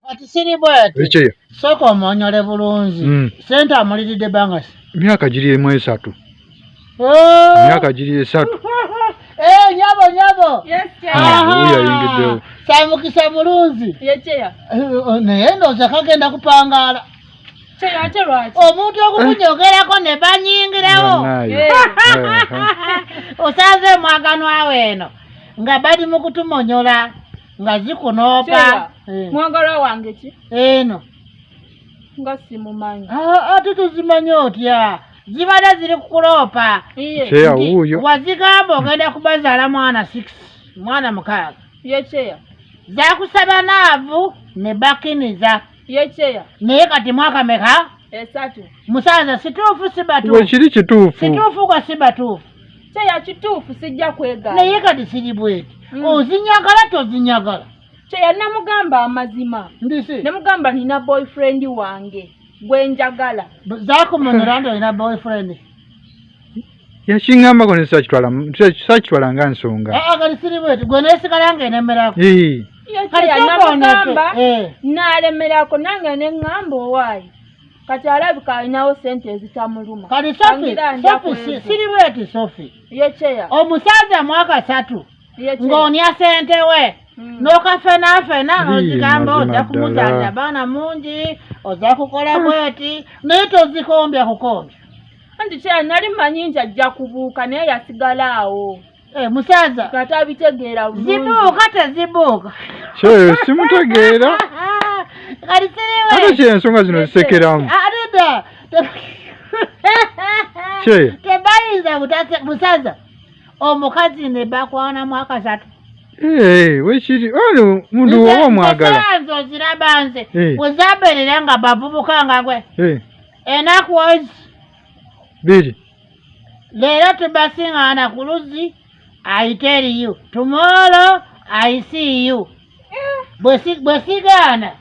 kati siri bwati ekyeyo sooka omonyole bulungi mm. sente amuliridde bangasi myaka giri emu esatu oh! myaka giri esatu eh, nyabo nyabo yayingiddewo samukisa mulungi ekyeya eh, oh, naye ndooza kagenda kupangaala omuntu okukunyogerako ne banyingirawo eh. osanze mwaganwawo eno nga bali mu kutumonyola nga zikunoopa eh. mwagala wange ki eno nga simumanyi ah, ate tuzimanyi otya zibadde ziri kukuloopa wazigamba ogenda kubazaala mwana six mwana mukaaga yecheya zakusaba naavu ne bakiniza yecheya naye kati mwaka meka esatu musaza situufu sibatu we kiri kituufu situufu kwa sibatuufu kyeya kituufu sijja kwegala naye kati siri bweti mm. ozinyagala tozinyagala kyeya namugamba amazima ndisi namugamba nina boyfriend wange gwenjagala zakumunira nti olina boyfriend yakiŋŋamba ko nesakitwala nga nsonga ah, ah, kati siri bweti gwe nesigala nga enemerako namugamba eh. nalemerako nange neŋŋamba owaayi kati alabika alinawo sente ezitamuluma kati sofi siri bweti sofi yekyeya omusajja mwaka satu ng'onya sente we hmm. nokafenafena nozigamba ojja kumuzalira baana mungi ojja kukola bweti naye tozikombya kukombya anti kya nali manyi nti ajja kubuuka naye yasigala awo eh, musaza kata abitegeera zibuuka tezibuuka kyeyo simutegeera ate kyensonga zino zisekeramu kyeyo tebayinza musaza omukazi ne bakwanamu akasatu Hey, eh, wekiri ono oh, mundu woba omwagala nze oziraba nze eh. wezabeerera nga bavubuka nga gwe hey. Eh. enaku ozi biri leero tubasing'ana ku luzzi ayite eriyo tumoolo ayisiiyo bwe sigaana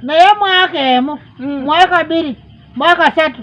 naye mwaka emu mwaka biri mwaka satu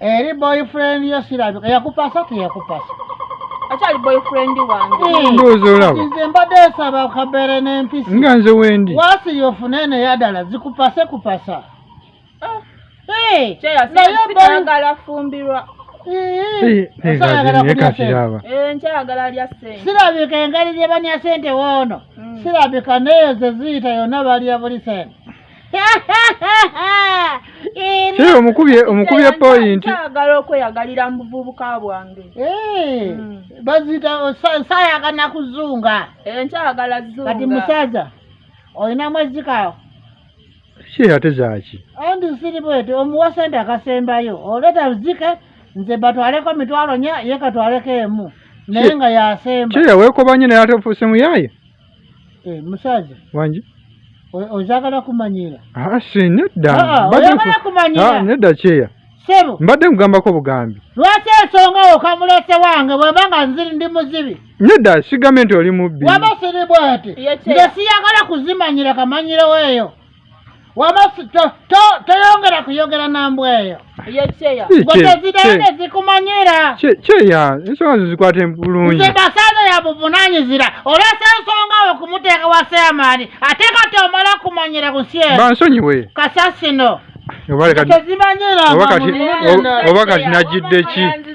Eri boyfriend yo sirabika yakupasa teyakupasa akyali boyfriend wange ndowooza hmm. olaba nze mbadde nsaba kabeere n'empisi nga nze wendi waasi yofune eno yadala zikupase kupasa ah. eh, nayagala afumbirwa eh, eh, sirabika engeri gye banya sente woono hmm. sirabika neyo zeziyita yonna balya buli sente Hey, omukubye omukubye point. Agala okweyagalira mu buvubuka bwange. Eh. Mm. Bazita saya kana kuzunga. Eh, nkyagala zunga. Kati musaza. Oyina mwezi kawo. Shi ate zaki. Andi siri bwete omuwasa nda kasembayo. Oleta uzike nze batwaleko mitwalo nya yeka twaleke emu. Naye nga yasemba. Kyeya wekobanye naye ate ofuse muyaye. Eh, musaza wangi ozagala kumanyira ah, si nedda ah, ah, nedda kyeya sebo mbadde nkugambako bugambi lwaki ensonga okamulese wange bwemba nga nziri ndi muzibi nedda sigambe nti oli mubbi waba siri bwati nge siyagala kuzimanyira kamanyirewo eyo wama toyongera kuyogera nambwa eyo gwetezirane zikumanyira kyeya ensonga zo zikwate bulungi nze basaza yabuvunanyizira olesa ensonga wo kumuteeka wa seamaani ate kati omala kumanyira ku nsi eyo bansonyiwe kasasino oba kati najidde ki